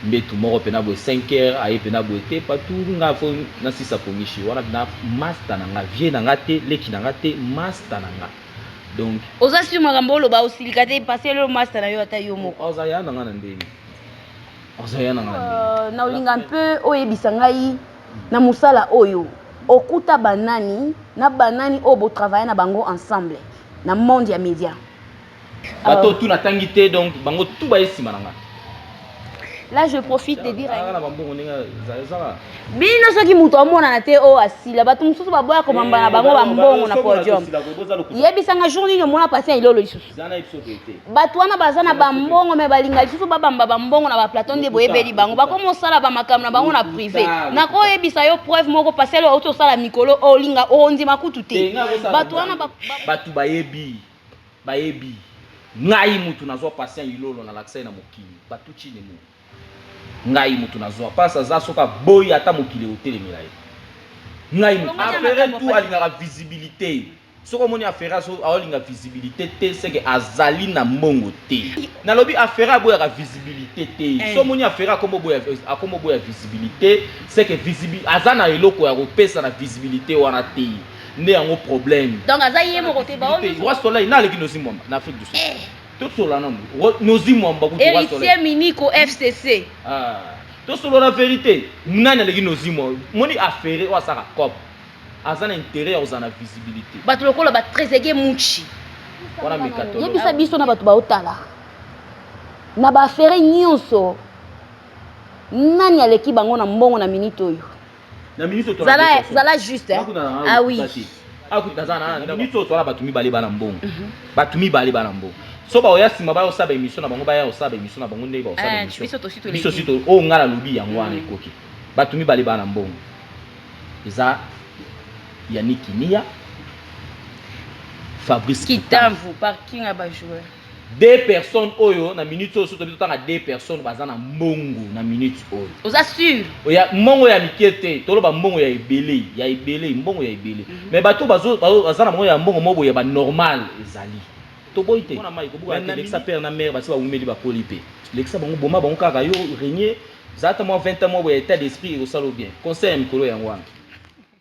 Mbetu moko pena boye cinq heures aye pena boye te patu nga faut na sisa konishi wana pena masta na nga vieux na nga te leki na nga te masta na nga donc Oza sur makambo oloba osilika te pase lelo masta na yo ata yo moko. Oza ya na nga na ndenge Oza ya na nga na ndenge Euh, na olinga un peu oyebisa ngai na musala oyo okuta ba nani na ba nani oyo bo travailler na bango ensemble na monde ya media? bato oh. tu natangi te donc bango tu baye nsima na ngai là je profite de dire bino soki moto amonana te oyo oh, asila bato mosusu baboya komamba na eh, bango bambongo na podium yebisanga jour nini omona pasi ya ilolo lisusu bato wana baza na bambongo me balinga lisusu babamba bambongo na baplaton nde boyebeli bango bakomi osala bamakambo na bango na privé nakoyebisa yo preuve moko pasi alo auti osala mikolo olinga ondima kutu te bato wana bato bayebi Bayebi ngai mutu nazua patient ilolo na lakisa ye na mokili batu chini mu ngai mutu nazua pasi aza soki aboyi ata mokili ekotelemela ye ngai mutu afere tu alingaka visibilite soki omoni afere azo aolinga visibilite te seke azali na mbongo te nalobi afere aboyaka visibilite te eh. so omoni afere akomo boya akomo boya visibilite seke visibilite aza na eloko ya kopesa na visibilite wana te nde yango problème donc aza ye moko te ba oyo roi soleil na leki nozi mwamba na afrique du sud eh. tosola nanu nozi mwamba kutu roi soleil héritier miniko fcc ah tosolo na verité nani aleki nozi mwamba moni affaire oyo asaka cop aza na intérêt ya kozala na visibilité bato lokola ba trezegue muchi wana mekatolo yebisa biso na bato baotala na ba affaire nyonso nani aleki bango na mbongo na minute oyo na minute oyo zala zala juste hein ah oui akuta za na na minute oyo tola bato mibale bana mbongo mhm. bato mibale bana mbongo so baoya nsima baya osala baémission na bango baya osala baémission na bango ndenge baosala eh, biso si oyo oh, ngai nalobi yango wana mhm. ekoki bato mibale bana mbongo eza yannick niya fabrice kitamvu parking ya bajoueur Deux personnes oyo na minutes oyo soto bitotanga deux personnes baza na mbongo na minutes oyo. Oza sur? Oya mbongo ya mikie te, toloba mbongo ya ebele, ya ebele, mbongo ya ebele. Mm -hmm. Mais bato bazo baza na mbongo ya mbongo mobo ya ba normal ezali. Toboyi te. Mona mai kobuka te lekisa père na mère basi ba wumeli ba koli pe. Lekisa bango boma bango kaka yo renier. Zata mwa 20 ans mwa ya état d'esprit ekosalo bien. Conseil ya mikolo yango wana.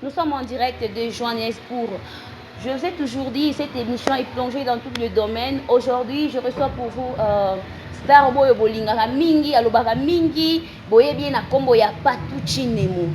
Nous sommes en direct de Johannesburg. Je vous ai toujours dit, cette émission est plongée dans tous les domaines. Aujourd'hui, je reçois pour vous euh, star boyo bolingaka mingi, alobaka mingi, boye bien na kombo ya Patuchi Nemo.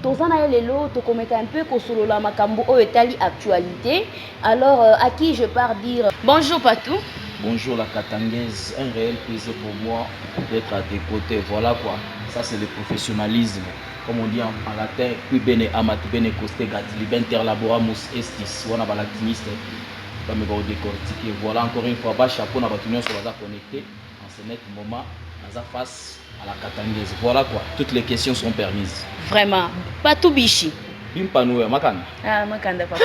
toza na ye lelo tokomeka un peu kosolola makambo oyo etali actualité alors euh, à qui je pars dire bonjour patou bonjour la katangaise un réel plaisir pour moi d'être à tes côtés voilà quoi ça c'est le professionnalisme comme on dit en latin, qui bene amat bene costegat, liber interlaboramus estis, wana ba latiniste bameka ko decortiquer. Voilà encore une fois ba chapeau na batu nionso baza connecter en ce net moment, naza face à la katangaise. Voilà quoi, toutes les questions sont permises. Vraiment, pas tout bichi. bimpano ya makanda ah, makanda papa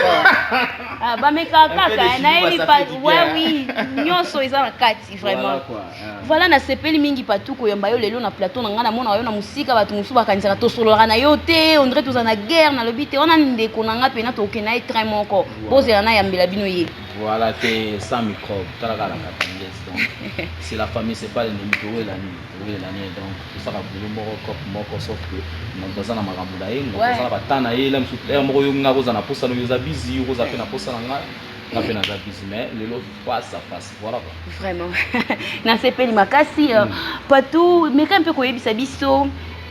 ah, bameka kaka nayebi pa ouais, oui nyonso eza na kati vraiment voilà, Voilà na sepeli mingi patou koyamba yo lelo na plateau na nga na mona yo na musika batu musu bakanisaka tosololaka na yo te on dirait toza na guerre na lobi te wana ndeko na nga pena tokokende na ye train moko bozela na yambela bino ye voilà te sans microbe tala kala na tendresse donc c'est la famille c'est pas l'ennemi to wela ni to wela ni donc to saka boulot moko cop moko sauf que mon toza na makambo na ye mon toza na bata na ye la musu heure moko yo nga ko za na posa no yo za busy yo ko za pe na posa na nga nga pe na za busy mais lelo face à face Voilà quoi. Vraiment. Nasepeli makasi. Euh, mm. Patou, meka mpe koyebisa biso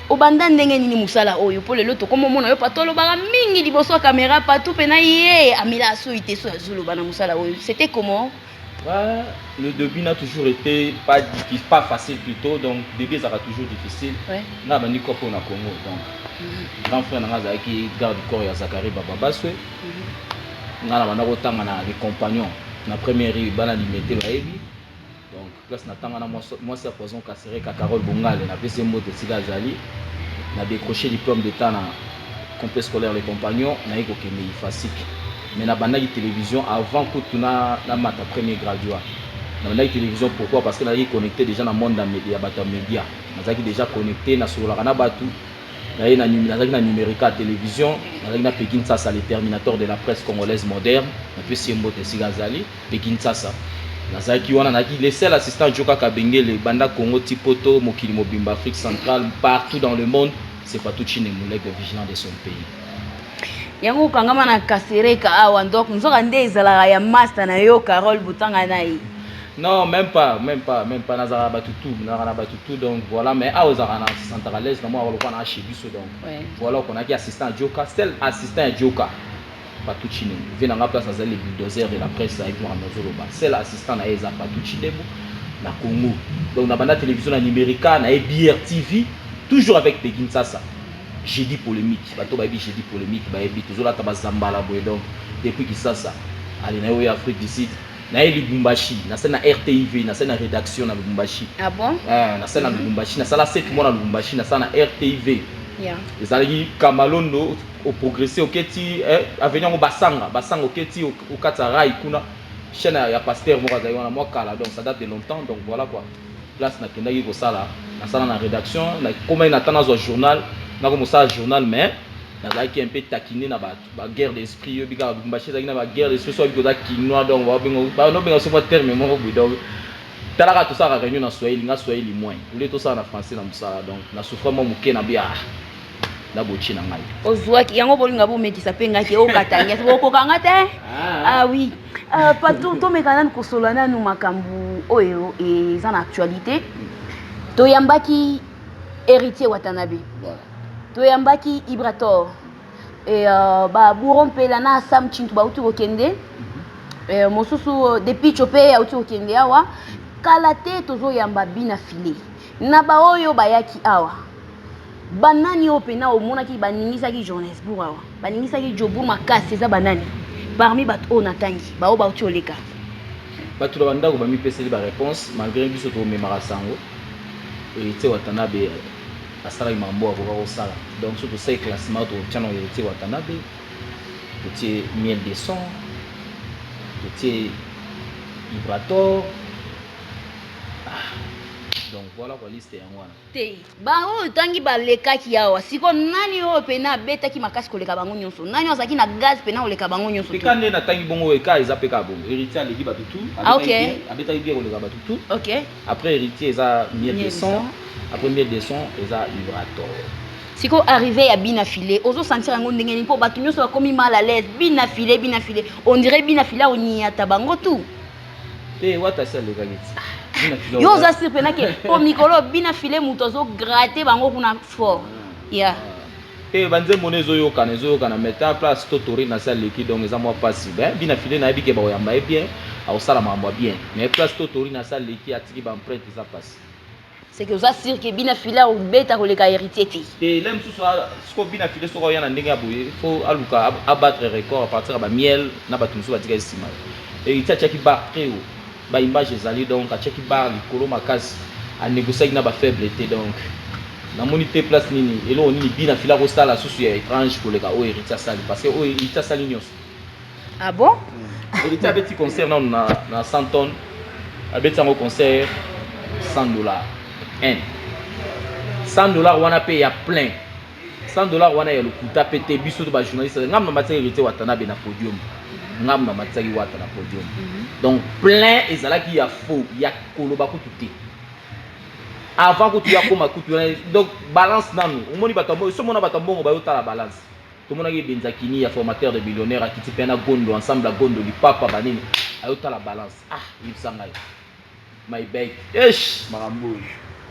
obanda ndenge nini mosala oyo mpo lelo tokoma omona yo patou olobaka mingi liboso ya kamera patou mpe na ye amela asoyi te so azoloba na mosala oyo c'était comment Bah, le début n'a toujours été pas difficile, pas facile plutôt, donc début ça va toujours difficile. Ouais. N'a bandi corps au Congo, donc mm -hmm. grand frère n'a qui garde corps ya Zachary Bababaswe. nga na banda kotanga na les compagnons na première rue bana limete bayebi donc place natanga na mwasi ya poison kasereka carole bongale napesi ye mbote esika azali na décroché diplôme d'état na complet scolaire les compagnons naye kokende ifasike mais nabandaki télévision avant kutu na, na mata premier graduat nabandaki télévision pourquoi parce que nazalaki connecté déjà na monde ya bato ya média nazalaki déjà connecté nasololaka na bato Naye na nazalaki na Numerica ya television, nazalaki na Peggy Nsasa le terminator de la presse congolaise moderne, napesi ye mbote esika azali, Peggy Nsasa. Nazalaki wana, nazalaki le seul assistant ya Djoka Kabengele, banda Congo ti poto, mokili mobimba, Afrique centrale, partout dans le monde, c'est Fatou Tshilembwe, l'aigle vigilant de son pays. yango okangama na kasereka awa nzoka nde ezalaka ya masta na yo carole botanga na ye Non meme pas meme pas meme pas nazalaka na batu tout nazalaka na batu tout donc voilà mais awa ozalaka na santaka à l'aise na mwana lokola na chez biso donc ouais. voilà okonaki assistant ya Djoka seul assistant ya Djoka Patou Chinembo vie na nga place azali le bulldozer de la presse avec moi nazoloba seul assistant na ye eza Patou Chinembo na Congo donc na banda télévision na Numerica na ye BRTV toujours avec Peggy Nsasa jeudi polémique bato bayebi jeudi polémique bayebi tozolata bazambala boye donc depuis Kisasa ale na yo ya Afrique du Sud Na ye Lubumbashi, na sali na RTIV, na sali na redaction na Lubumbashi. Ah bon? Eh, na sali na Lubumbashi, na sala sept mois na Lubumbashi, na sala na RTIV. Yeah. Ezalaki Kamalondo, o progresser oke ti eh, avenue yango Basanga, Basanga oke ti o- okatisa rail kuna. Chaîne ya- ya pasteur moko azali wana mwa kala, donc ça date de longtemps, donc voilà quoi. Place nakendaki kosala, nasala na redaction, nakomaki na ata nazwa journal, nakomosala journal mais nazalaki un peu taquiner na ba ba guerre d'esprit yo bika Lubumbashi ezalaki na ba guerre d'esprit soit biko za kinois donc ba bengo ba no benga sofa terme moko boy donc tala ka tosala ka réunion na swahili nga swahili moins ule tosala na français na musala donc na souffre mwa muke na bia na bochi na ngai ozuaki yango bolinga bomekisa pe ngai te okatangi ati bokoka nga te ah oui ah, pato tomeka nanu kosola nanu makambo oyo eza na actualité toyambaki héritier watanabe toyambaki ibrator et euh, ba bouro mpela na sam chintu bauti kokende euh, mosusu euh, depicho mpe auti kokende awa kala te tozoyamba bina file na baoyo bayaki awa banani oyo mpena omonaki baningisaki johannesbourg awa baningisaki jobour makasi eza banani parmi bato oyo natangi baoyo bauti oleka bato na bandako bamipeseli bareponse malgré biso tomemaka sango ete watanabe asalaki mambo akoka kosala donc soki tosali classement totia na heritier watanabe totie miel de son totie ibrator ah, donc voilà kwa liste yango wana te baoyo otangi balekaki awa siko nani oyo mpena abetaki makasi koleka bango nyonso nani azalaki na gaz mpena koleka bango nyonso peka nde natangi bongo eka eza peka bongo heritier aleki bato tu ah, abetaki bien koleka bato tu Après heritier eza mieux de son après mieux de son eza vibrator. Sikoyo arrive ya bina filet ozo sentir yango ndenge nini mpo bato nyonso bakomi mal à l'aise bina filet bina filet on dirait bina filet aonyata bango tout te wata si alekaki ti yo oza sir mpenake mpo mikolo bina filet moto azo gratte bango kuna fort ya yeah. Te ba nzembo ne ezoyokana ezoyokana mais ta place to Taurine asi aleki donc eza mwa pasi mais bina filet nayebi ke bakoyamba ye bien akosala makambo ya bien mais place to Taurine asi aleki atiki ba empreinte eza pasi. Seke oza sur que bina filet akobeta koleka heritier te? Te le mususu a sikoyo bina filet soki akoya na ndenge ya boye fo aluka a battre record apartir ya ba miel na batu mususu batikaki sima heritier atiaki barre tres haut. Ba images ezali donc atiaki barre likolo makasi a negociaki na ba faibles te donc na moni te place nini eloko nini bina fila ko sala susu ya etrange koleka oyo Heritier asali parce que oyo Heritier asali nionso Ah bon? Heritier abeti concert nanu na na 100 tonnes abeti yango concert 100 dollars hein 100 dollars wana pe ya plein 100 dollars wana ya lokuta pe te biso to ba journaliste ngamu na matisaki heritier watanabe na podium ngamu na matisaki wata na podium mhm. donc plein ezalaki ya faux ya koloba kutu te avant kutu ya koma kutu donc balance nanu omoni bato mbongo so mona bato mbongo bayo tala balance tomonaki ebenza kini ya formateur de millionnaire akiti pe na gondo ensemble ya gondo lipapa banini ayo tala balance ah yebisa ngai my bag eish makambo oyo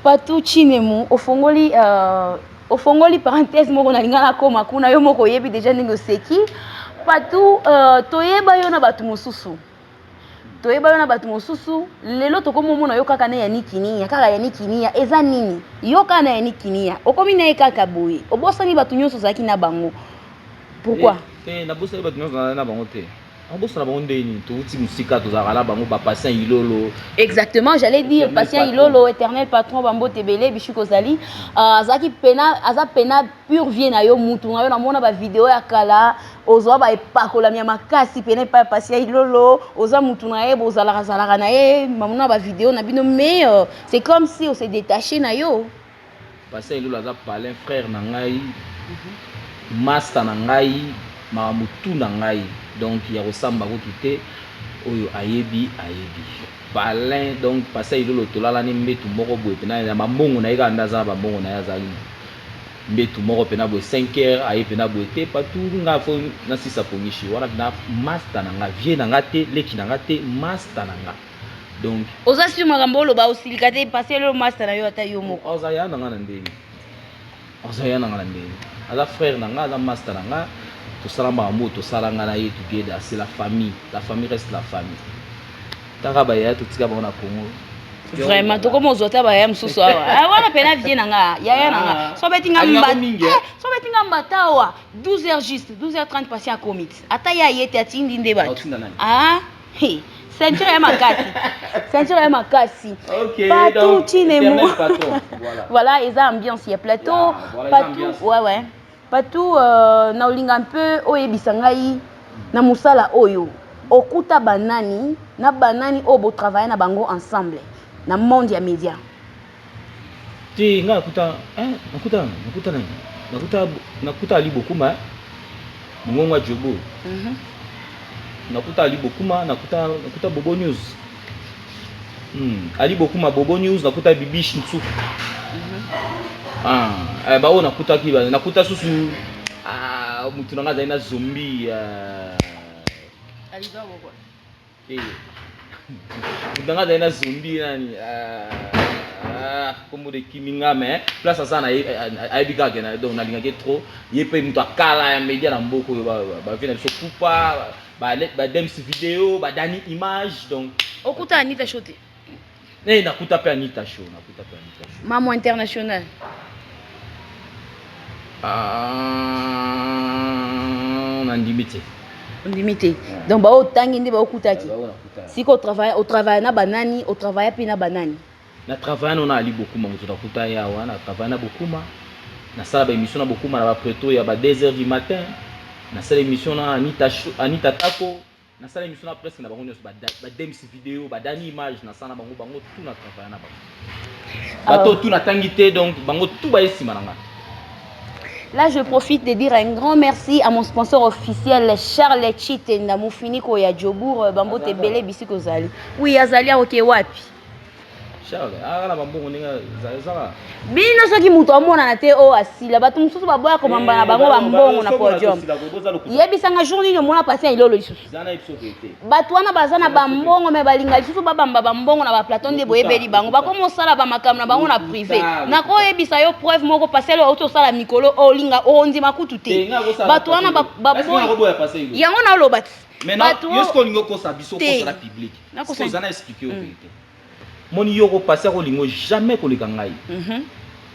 patou chinemu ofongoli uh, ofongoli parenthèse moko nalinga nakoma kuna yo moko oyebi deja ndenge oseki patu uh, toyeba yo na bato mosusu toyeba yo na bato mosusu lelo tokomi omona yo kaka na yannick kiniya kaka yannick kiniya eza nini yo kaka na yannick kiniya okomi na ye kaka boye obosani bato nyonso ozalaki na bango pourquoi te eh, eh, nabosani bato nyonso na bango te Abosana bango ndenge nini? Towuti musika tozalaka na bango ba patient Ilolo. Exactement, j'allais dire patient Ilolo, éternel patron ba mbote ebele Bichou Kozali. Euh, azalaki pena aza pena pur vie na yo mutu na yo namona ba video ya kala ozwa ba epakolami ya makasi pena epai ya patient Ilolo, oza mutu na ye bozalaka zalaka na ye mamona ba video na bino mais euh, c'est comme si ose detacher na yo. Pasteur Elula aza palin frère na ngai masta na ngai makambo tout na ngai donc ya kosamba kutu te oyo ayebi ayebi palin donc pasteur Elula tolalani mbetu moko boye pena na bambongo na ye kaka nde aza na bambongo na ye azali na mbetu moko pena boye 5 heures aye pena boye te patu nga fo nasisa pongisho wana pena masta na nga vieux na nga te leki na nga te masta na nga donc oza sur makambo oloba osilika te pase lelo masta na yo ata yo moko oza ya na nga na ndenge oza ya na nga na ndenge aza frère na nga aza masta na nga tosala makambo oyo tosala nga na ye together c'est la famille la famille reste la famille kaka bayaya totika bango na congo vraiment tokoma ozwa ta bayaya mosusu awa ah, wana mpena vie na nga yaya na nga ah. so beti nga eh, so beti nga mbata awa 12 heures juste 12 heures 30 pasi akomiti ata ye aye te atindi nde bato Hey, ceinture ya makasi ceinture ya makasi okay, patou chinemo voilà. voilà eza ambiance ya plateau yeah, voilà, patou ouais ouais patou euh, na olinga mpe oyebisa ngai na mosala oyo okuta banani na banani oyo botravaille na bango ensemble na monde ya média Te nga nakuta eh, nakuta nakuta na nakuta nakuta ali bokuma eh. Mungongo ya Jobo. Mhm. Nakuta ali bokuma, nakuta nakuta Bobo News. Hmm. Ali bokuma Bobo News, nakuta Bibish Nsuku. Mhm. Ah, eh, ba oyo nakutaki ba nakuta susu ah mutu na nga azali na zombie. Ah. Alidor Bobo. mutanga azali na zombi nani kombo de kiminga mais place aza na ayebi kaka kena donc nalingaki trop ye mpe moto akala ya media na mboka oyo bavi na biso kupa badems video badani image donc okutana nita shote Eh, nakuta pe Anita Show, nakuta pe Anita Show. Mamu international. Ah, nandimi te. ondimi te donc baoyo otangi nde baokutaki sika au travaille na banani au travaille mpe na banani na travaille nano na ali bokuma moto nakuta ye awa na travaille na bokuma nasala baémission na bokuma na bapreto ya ba 2 heures du matin nasala émission na anita, anita tako na sala émission na presque na bango nionso ba ba dems vidéo ba dani image na sala bango bango tout na travailler na bango ah. bato tout na tangi te donc bango tout ba esima na ngai Là, je profite de dire un grand merci à mon sponsor officiel Charles Chitenda Mufiniko ya Djobour euh, Bambote Bele Bisiko Zali. Oui, Azali à Okewapi. bino soki moto amonana te oyo oh, asila bato mosusu baboya komamba na eh, bango bambongo na podium yebisanga jour nini omona pasi ya ilolo lisusu bato wana baza na bambongo me balinga lisusu babamba bambongo na baplaton nde boyebeli bango bakomi osala bamakambo na bango na prive nakoyebisa yo preuve moko pasi yalo outi osala mikolo olinga ondima kutu te bato wana yango naolobaki Maintenant, yo sikoyo olingi okosa biso okosa na public. Sikoyo oza na expliquer yo verite. Moni yo okopasi akolingo jamais koleka ngai. Mhm.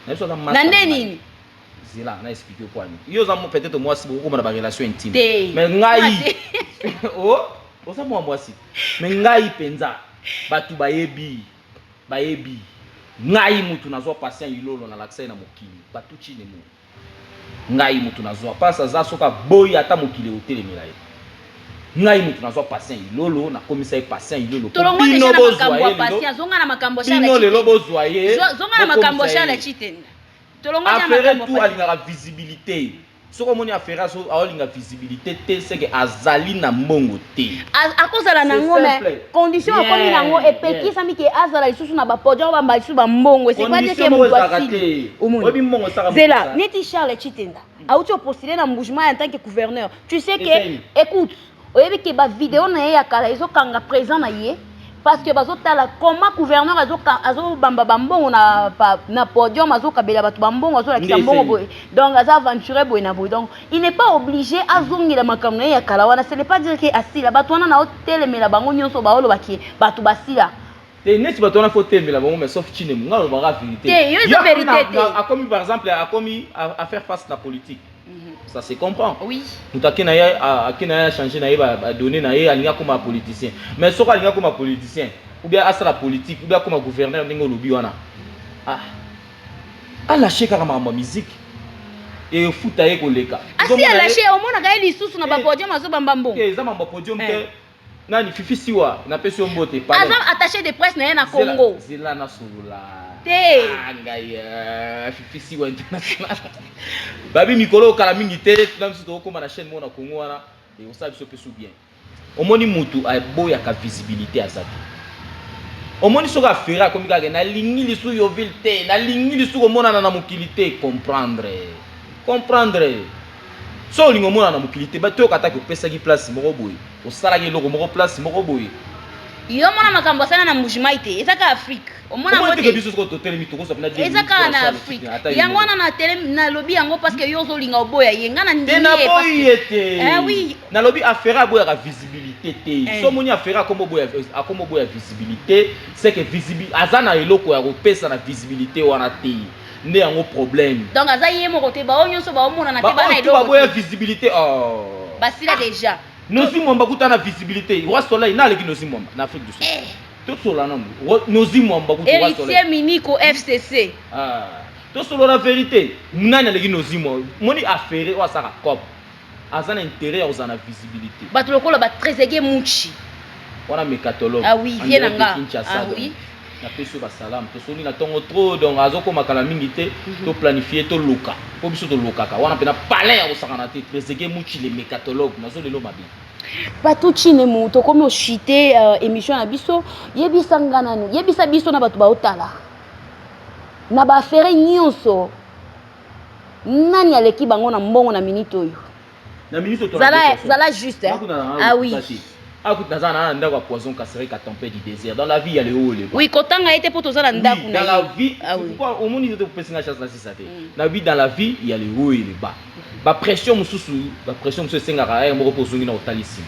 Na biso aza masta. Na nde nini? Zela na expliquer yo kwani. Yo oza peut-être mwasi bokokoma na ba relation intime. Mais ngai oh oza mwa mwasi. Mais ngai penza bato bayebi bayebi ngai mutu nazwa patient ilolo na lakisa ye na mokili bato chine mo. Ngai mutu nazua pasi aza soki aboyi ata mokili ekotelemela ye ngai mutu nazua pasien ilolo nakomisa ye pasien ilolo po bino bozua ye lelo bino lelo bozua ye bokomisa ye afere tout alingaka visibilite soki omoni afere azolinga visibilite te seke azali na mbongo te. akozala na yango me condition akomi na yango epekisami ke azala lisusu na bapodi yango bamba lisusu bambongo esekwateke moto asili zela neti charles chitenda auti opostile na mbugement ya ntanke gouverneur tu sais ke écoute oyebi ke bavideo na ye ya kala ezokanga présent na ye parce que bazo tala comment gouverneur azo azo bamba ba mbongo na na podium azo kabela bato ba mbongo azo lakisa mbongo boye donc aza aventurer boye na boye donc il n'est pas obligé azongela makambo na ye ya kala wana ce n'est pas dire que asila bato wana na otelemela bango nyonso baoloba ke bato basila te neti bato wana fo telemela bango mais sauf chine munga alobaka vérité te yo eza vérité te akomi par exemple akomi à faire face na politique ça se comprend oui. moto ake na ye ake na ye achange na ye badonne na ye alingi akoma politicien mais soki alingi akoma politicien ou bien asala politique ou bien akoma gouverneur ndenge olobi wana ah. alashe kaka makambo ya miziki efuta ye koleka asi alashe omonaka ye lisusu na eh. bapodium azobamba mbongo eh, eza makambo ya podium te eh. Nani fifi siwa na pesi yo mbote pale. Aza attache de presse na ye na Congo. Zela, zela na solola. Te. Ah ngai uh, fifi siwa international. Babi mikolo kala mingi te tuna biso tokokoma na chaîne moko na Congo wana ekosala biso pesu bien. Omoni mutu aboyaka visibilité aza te. Omoni soki afere akomi kaka nalingi lisu Yoville te, nalingi lisu komonana na mokili te, comprendre. Comprendre. Soki olingi omona na mokili te, batoyoka ata kopesaki place moko boye, osalaki eloko moko place moko boye. Yo mona makambo asala na Mbujimai te, eza kaka Afrique. Omona yango te? Biso soko totelemi tokosa pena te. Eza kaka na Afrique. Yango wana na telemi na lobi yango parce que yo ozolinga oboya ye. Nga na ndimi ye. Tena boyi ye te. Eh oui. Na lobi afera aboya ka visibilité te. Eh. So moni afera akomo boya akomo boya visibilité, c'est que visibilité azana eloko ya kopesa na visibilité wana te. nde yango problème donc aza ye moko te bao nyonso bao monana te bana eloko baboya visibilité oh basila ah. déjà nozi mwamba kuta na visibilité roi soleil na aleki nozi mwamba na afrique du sud eh. tosola nanu nozi mwamba kuta roi soleil héritier miniko fcc ah tosolola verité nani aleki nozi mwamba moni affaire oyo asaka cop Aza na interet ya kozala na visibilite. Batu lokola ba trezeguet mutshi. Wana mecatologue. Ah oui, vieux na nga. Ah oui. Na pesi yo ba salam. To soni na tongo trop donc azo koma kala mingi te. Mm -hmm. To planifier to loka. Po biso to lokaka. Wana pena palin ya kosakana te. Trezeguet mutshi le mecatologue. Nazo lelo mabe. Patou chine mu to komi oshite uh, euh, emission na biso. Yebisa nga nanu. Yebisa biso na batu ba otala. Na ba affaire nyonso. Nani aleki bango na mbongo na minute oyo? Na minute oyo zala zala juste hein. Ah oui. Ah kutu naza na ndako ya poison Kasereka tempête du désert dans la vie ya le haut le bas. Oui kotanga ete po tozala ndako na. Dans la vie, ah oui. Pourquoi au monde yote kopesi nga chance na sisa te. Mm. Na vie dans la vie ya le haut et le bas. Ba pression mususu, ba pression mususu esengaka eh moko po zongi na otali sima.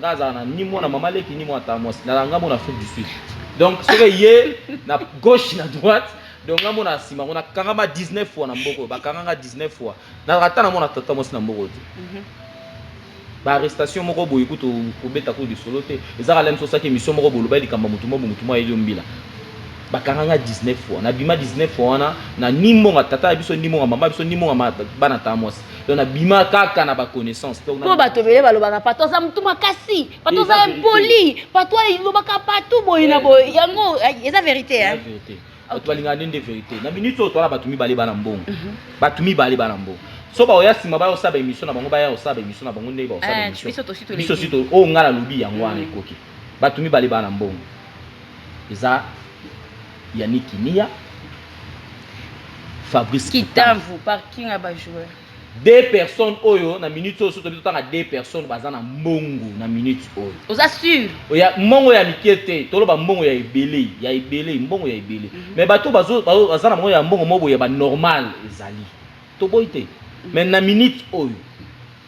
Nga azala na ni mwana mama leki ni mwana tata mwasi na nga mona Afrique du Sud donc soki ye na gauche na droite donc nga mona sima kuna kangama 19 fois na mboko ba kanga nga 19 fois na rata na mwana tata mwasi na mboko te mhm. ba arrestation moko boye kutu kobeta ko lisolo te ezaka lem sosaki mission moko boloba likambo mutu moko mutu mwa elio mbila bakanga nga 19 fois na bima 19 fois wana na ni mbonga tata ya biso ni mbonga mama biso ni mbonga bana tata mwasi donc nabima kaka na baconnaissance mpo bato ebele balobaka pato aza motu makasi pato aza impoli pato alobaka pato boye na boye yango eh, eza verité bato balingaka nde nde verité na minute oyo towana bato mibale bana mbongo mhm. bato mibale bana mbongo so baoya nsima baya kosala baémission na bango baya kosala baémission na bango ndenge bakosala eh, biso si oyo oh, ngai nalobi yango wana mhm. ekoki bato mibale bana mbongo eza Yannick Kimia, Fabrice Kitamvu, parking ya ba joueurs. Deux personnes oyo na minute oyo soto tanga deux personnes baza na mbongo na minute oyo. Oza sûr? Oya mbongo ya mike te, toloba mbongo ya ebele, ya ebele, mbongo ya ebele. Mm -hmm. Mais bato bazo baza na mbongo ya mbongo mobo ya ba normal ezali. Toboyi te. Mais na minute oyo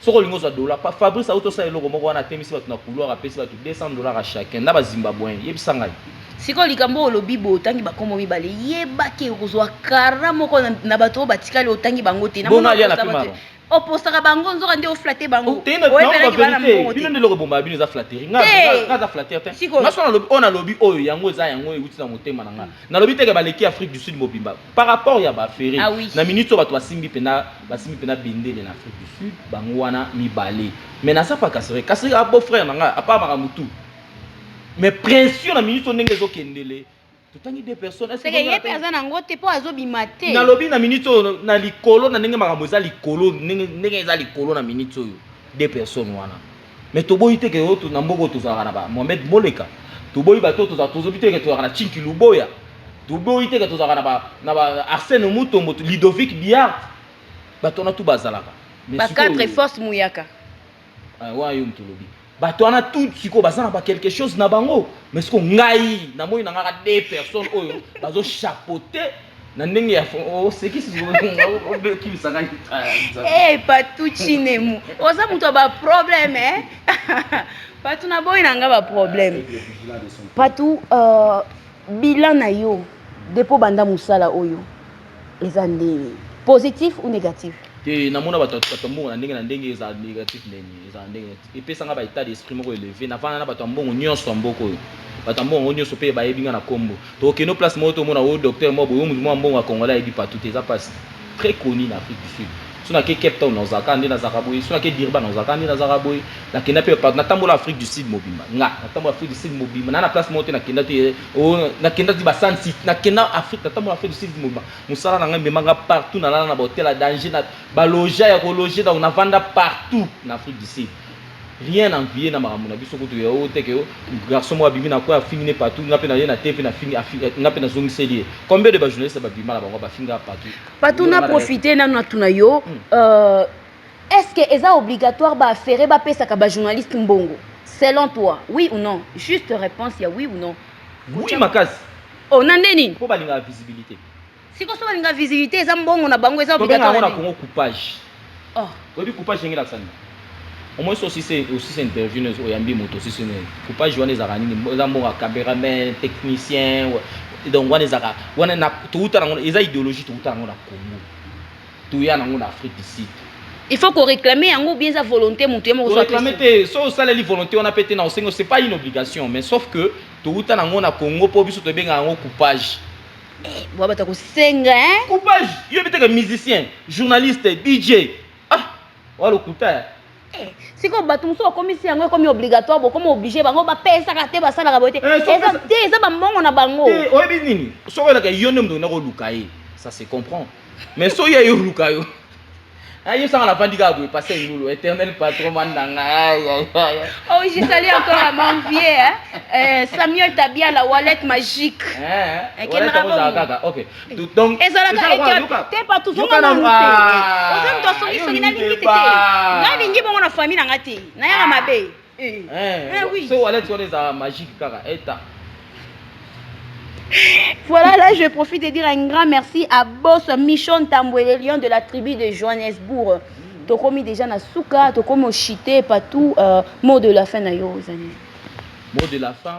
soki olingi ozwa dollar, pa Fabrice auti osala eloko moko wana atemisi bato na couloir apesi bato 200 dollars à chacun na ba Zimbabweens. Yebisa ngai. Sikoyo likambo oyo olobi boye otangi ba kombo mibale yeba ke okozwa kara moko na bato oyo batikali otangi bango te. Bongo alia na pi maron. Opostaka bango nzoka nde o flatter bango. Oteyi na bango ba verite. Bino nde eloko ebombaka bino eza flatterie. Nga nga aza flatteur te. Nga soki nalobi oyo nalobi oyo yango eza yango ewuti na motema na nga. Nalobi te ke baleki Afrique du Sud mobimba. Par rapport ya ba Ferre, ah oui. na minute oyo bato basimbi pena basimbi pena bendele na Afrique du Sud, bango wana mibale. Mais naza pa Kasereka, Kasereka a beau frère na nga, apa makambo tout. Mais pression na minute oyo ndenge ezo kendele, totangi deux personnes. Est-ce que ye pe aza na ngo te po azo bima te. Na lobi na minute oyo na likolo na ndenge makambo eza likolo, ndenge ndenge eza likolo na minute oyo deux personnes wana. Mais toboyi te ke yo na mboka oyo tozalaka na ba Mohamed Moleka, toboyi bato oyo tozalaka, tozobi te ke tozalaka na Chinki Luboya, toboyi te ke tozalaka na ba na ba Arsène Mutombo, Ludovic Biart, bato wana tout bazalaka. Mais sikoyo. Ba quatre forces Muyaka. Eh wana yo moto olobi. Bato wana tout sikoyo baza na ba quelque chose na bango. Mais sikoyo ngai namoni na nga ka deux personnes oyo bazo chapeauter na ndenge ya osekisi obekibisa ngai hey, patu chinemu oza moto ya baproblème eh? patu naboyi na ngai baproblème patu uh, bilan na yo depo banda mosala oyo eza ndenge positif ou négatif te namona bato ya mbongo na ndenge na ndenge eza négatif ndenge eza ndenge Epesa nga ba etat d'esprit moko eleve, na vanda na bato ya mbongo nionso ya mboka oyo. Bato ya mbongo yango nionso pe ba yebi nga na kombo. To kende o place moko to mona o docteur moko boye, o mutu moko ya mbongo ya congolais a yebi partout te, eza pasi. Très connu na Afrique du Sud. Soki na ke Cape Town na kozala kaka nde na zalaka boye, soki na ke Durban na kozala kaka nde na zalaka boye. Na kenda pe partout, na tambola Afrique du Sud mobimba. Nga, na tambola Afrique du Sud mobimba. Naza na place moko te na kenda te o na kenda ti ba sun city. Na kenda Afrique, na tambola Afrique du Sud mobimba. Musala na nga emema nga partout, na lala na ba hotel ya danger, na. Ba loja ya ko loger donc na vanda partout na Afrique du Sud. Rien envier na makambo na biso kutu ya oyo te que garçon moko abimi na coin afingi ne partout nga pe na ye na TV na fingi nga pe na zongiseli ye. Combien de ba journalistes ba bima na bango ba finga partout. Patou na profiter nanu na tuna yo euh est ce que eza obligatoire ba ferre ba pesaka ba journaliste mbongo selon toi oui ou non juste reponse ya oui ou non oui makasi oh na nde nini po balingaka visibilité Siko so balinga visibilité eza mbongo na bango eza obligatoire. Tobenga yango na Congo coupage. Oh. Oyebi coupage ndenge elakisa nini? Omoi so osise osise interview nezo oyambi moto osise nini? Coupage wana ezalaka nini? Eza mbongo ya cameraman, technicien. Donc wana ezalaka wana na touta nango eza ideologie touta nango na Congo. Toya nango na Afrique du Sud. Il faut qu'on réclame yango bien sa volonté moto ye moko so réclame te so osaleli volonté wana pe te na osengo c'est pas une obligation mais sauf que touta nango na Congo po biso tobenga yango coupage. Eh, bwa bata kosenga hein. Coupage, yo bitaka musicien, journaliste, DJ. Ah, walo kuta. Eh. Eh, sikoyo bato mosusu bakomisi yango ekomi obligatoire bokomi oblige bango bapesaka te basalaka boye te eh, te eza bambongo na bango eh, oyebi nini soki oyelaka yo nde moto okenda koluka ye ça se comprend mais soki ye oluka yo Ah, yo sanga navandi kaka boye pase ndulu éternel patron mwana na ngai oh je salue encore à mon vieux hein? euh, samuel tabiala wallet magique eh, ekenaka kaka ok donc ezalaka eke te pa tozonga na mute ah, oza moto asongisongi nalingi te te nalingi bongo na famille na ngai te nayaka mabe Eh, eh, eh oui. So wallet wana eza magique kaka eta. Voilà, là je profite de dire un grand merci à Boss Michon Tamboué, le lion de la tribu de Johannesburg. Tokomi déjà na suka, tokomi oshite partout. Euh, mot de la fin na yo, Zani. Mot de la fin,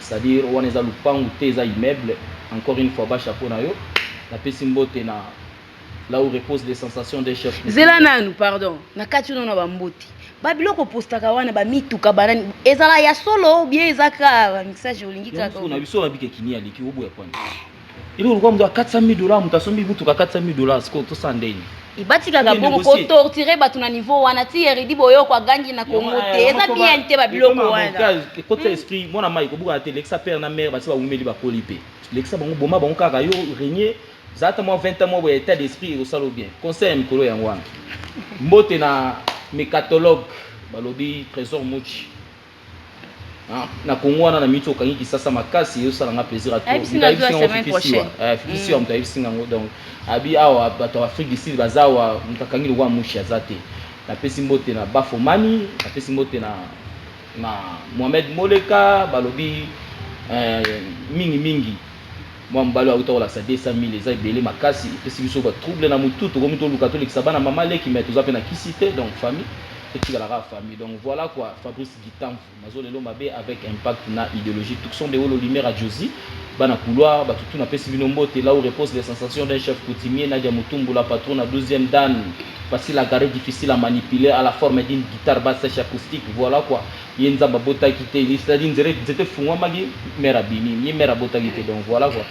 C'est à dire wana eza lupangu te eza immeuble encore une fois bas chapeau na yo na pesi mbote na là où repose les sensations d'un chef zela nanu pardon na kati yo na ba mbote ba biloko postaka wana ba mituka banani ezala ya solo bien eza ka ba mixage olingi kaka na biso na bike kini aliki oboya kwani Eloko lokola moto ya 400 000 dollars, moto asombi motuka 400 000 dollars, sikoyo tosala ndenge batikaka bongo kotortire bato na niveau wana ti eridi boyoko agangi na kongo eh, te eza bien te babiloko wanaekota hmm. esprit mwana mai kobukana te lekisa père na mare basi baumeli bakoli mpe lekisa bango boma bango kaka yo renie zalata mwa 20 ans mwa boya état d'esprit ekosala bien conseil ya mikolo yango wana mbote na mecatologue balobi trésor muchi Na Congo wana na mitu okangi kisasa makasi ezo sala nga plaisir à trop. Mutu ayebisi nga ofi kisi wa. Eh fi kisi wa mutu ayebisi nga ngo donc abi awa bato ya Afrique du Sud baza awa mutu akangi lokola mushi aza te. Na pesi mbote na Bafo Mani, na pesi mbote na na Mohamed Moleka balobi eh mingi mingi. Mwa mobali oyo awuta kolakisa 200.000 eza ebele makasi epesi biso ba trouble na mutu tokomi toluka tolekisa bana mama leki mais toza pe na kisi te donc famille etikala kaka famille donc voila quoi Fabrice Gitamvu nazo lelo mabe avec impact na ideologie Tucson de Wolo Limera Josie bana couloir batu tout napesi bino mbote là où repose les sensations d'un chef coutumier Nadia Mutumbu la patrona douzième dan facile à garer difficile à manipuler à la forme d'une guitare basse sèche acoustique voila quoi ye nzambe abotaki te ni cetadire nzere nzete efungwamaki mère abimi ye mère abotaki te donc voilà quoi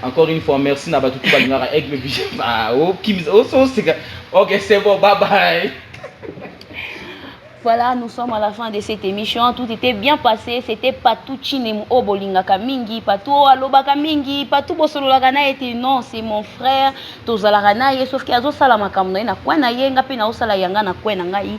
encore une fois merci na batu tout balingaka aigle vision ba o kim o so sika ok c'est bon bye bye Voilà, nous sommes à la fin de cette émission. Tout était bien passé. C'était Patou Chinem Obolingaka Mingi, Patou Alobaka Mingi, Patou Bosololaka na était non, c'est mon frère. Tozalaka na ye sauf que azo sala makambo na ye na coin na ye, nga pe na osala yanga na coin na ngai.